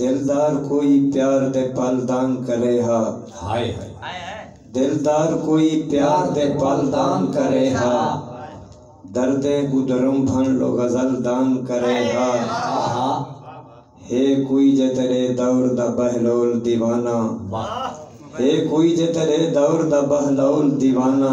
دلدار کوئی پیار دے پل دانگ کرے ہا۔ ہائے ہائے۔ دلدار کوئی پیار دے پل دانگ کرے ہا۔ درد گدرم بھن لو غزل دانگ کرے ہا۔ آہا۔ ہے کوئی جے تیڈے دور دا بہلول دیوانہ۔ واہ۔ ہے کوئی جے تیڈے دور دا بہلول دیوانہ۔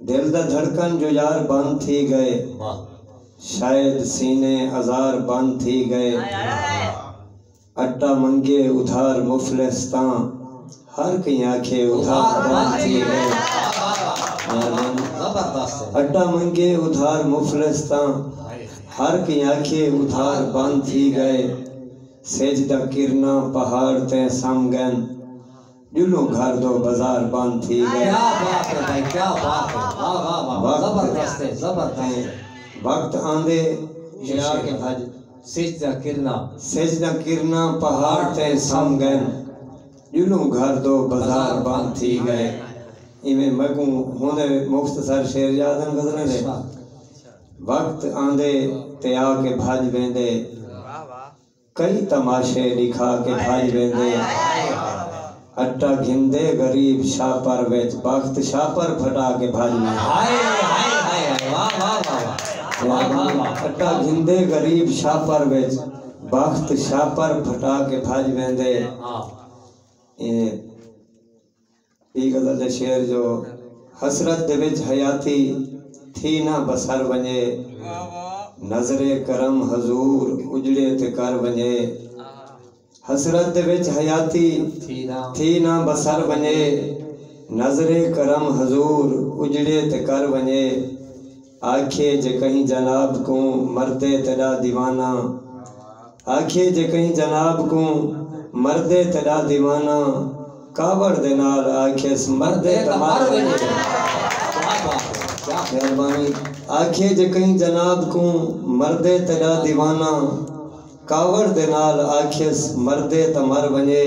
دل دا دھڑکن جو یار بند تھی گئے شاید سینے ازار بند تھی گئے اٹا منگے ادھار مفلس تاں ہر کہیں آکھے ادھار بند تھی گئے اٹا منگے ادھار مفلس تاں ہر کہیں آکھے ادھار بند تھی گئے سج دا کرنا پہاڑ تے سم گن ݙلوں گھر دو بزار بند تھی ڳئے۔ کیا بات ہے بھائی کیا بات ہے واہ واہ واہ واہ زبردست ہے زبردست ہے۔ وقت آندے ہلا کے بھڄ سجھ دیاں کرناں۔ سجھ دیاں کرناں پہاڑ تے سم ڳئن۔ ݙلوں گھر دو بزار بند تھی ڳئے۔ ایویں میکوں ہن دے مختصر شعر یاد ہن غزلاں دے۔ وقت آندے تے آ کے بھڄ ویندے۔ کئی تماشے ݙکھا کے بھڄ ویندے اٹا گھندے غریب شاپر وچ بخت شاپر پھٹا کے بھڄ اٹا گھندے غریب شاپر وچ بخت شاپر پھٹا کے بھڄ ویندے ایں ایں غزل دے شعر جو حسرت دے وچ حیاتی تھی نہ بسر ونڄے نظر کرم حضور اجڑے تے کر ونڄے حسرت دے وچ حیاتی تھی نہ بسر ونڄے نظر کرم حضور اجڑے تے کر ونڄے آکھیے جے کہیں جناب کوں مردے تیݙا دیوانہ آکھیے جے کہیں جناب کوں مردے تیݙا دیوانہ کاوڑ دے نال آکھیس مردے تاں مر ونڄے آکھیے جے کہیں جناب کوں مردے تیݙا دیوانہ کاوڑ دے نال آکھیس مردے تاں مر ونڄے۔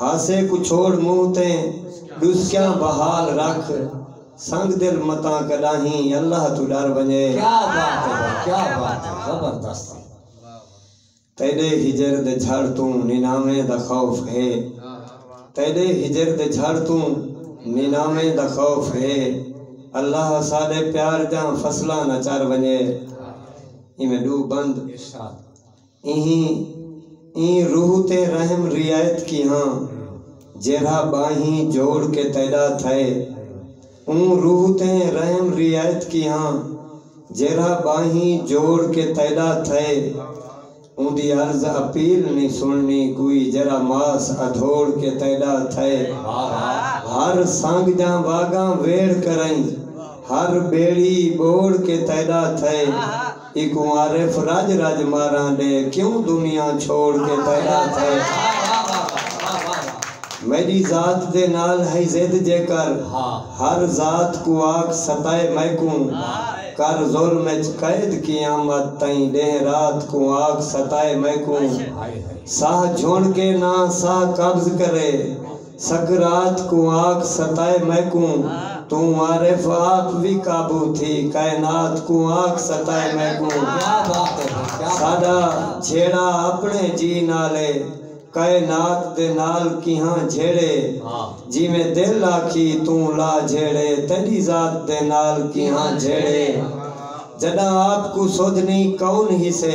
ہاسے کوں چھوڑ منہ تے ڈسکیاں بحال رکھ سنگ دل متاں کڈاہیں اللہ توں ڈر ونجے۔ کیا بات ہے بھائی کیا بات ہے زبردست ہے۔ تیڈے ہجر دے جھڑ توں نیناویں دا خوف ہے تیڈے ہجر دے جھڑ توں نیناویں دا خوف ہے اللہ ساڈے پیار دیاں فصلاں نہ چر ونجے ایویں ڈو بند۔ ارشاد۔ اہیں ایں روح تے رحم ریایت کیہاں جیرھا ٻانہیں جوڑ کے تیݙا تھئے۔ اوں روح تے رحم ریایت کیہاں جیرھا ٻانہیں جوڑ کے تیݙا تھئے۔ اوندی عرض اپیل نی سݨݨی کوئی جیرھا ماس ادھوڑ کے تیݙا تھئے۔ ہر سنگ جاں واگاں ویڑھ کرئیں ہر ٻیڑی ٻوڑ کے تیݙا تھئے۔ اکوں عارف رج رج ماراں ݙے کیوں دنیا چھوڑ کے پیدا تھئے میݙی ذات دے نال ہئی ضد جیکر ہر ذات کوں آکھ ستائے میکوں کر ظلم اچ قید قیامت تئیں ݙینہہ رات کوں آکھ ستائے میکوں ساہ جھنڑ کے ناں ساہ قبض کرے سقراط کوں آکھ ستائے میکوں توں عارف آپ وی قابو تھی کائنات کوں آکھ ستائے میکوں ساڈا جھیڑا اپنے جی نال اے کائنات دے نال کیہاں جھیڑے جیویں دل آکھی توں لا جھیڑے تیڈی ذات دے نال کیہاں جھیڑے جڈاں آپ کوں سودھنی کون ہیسے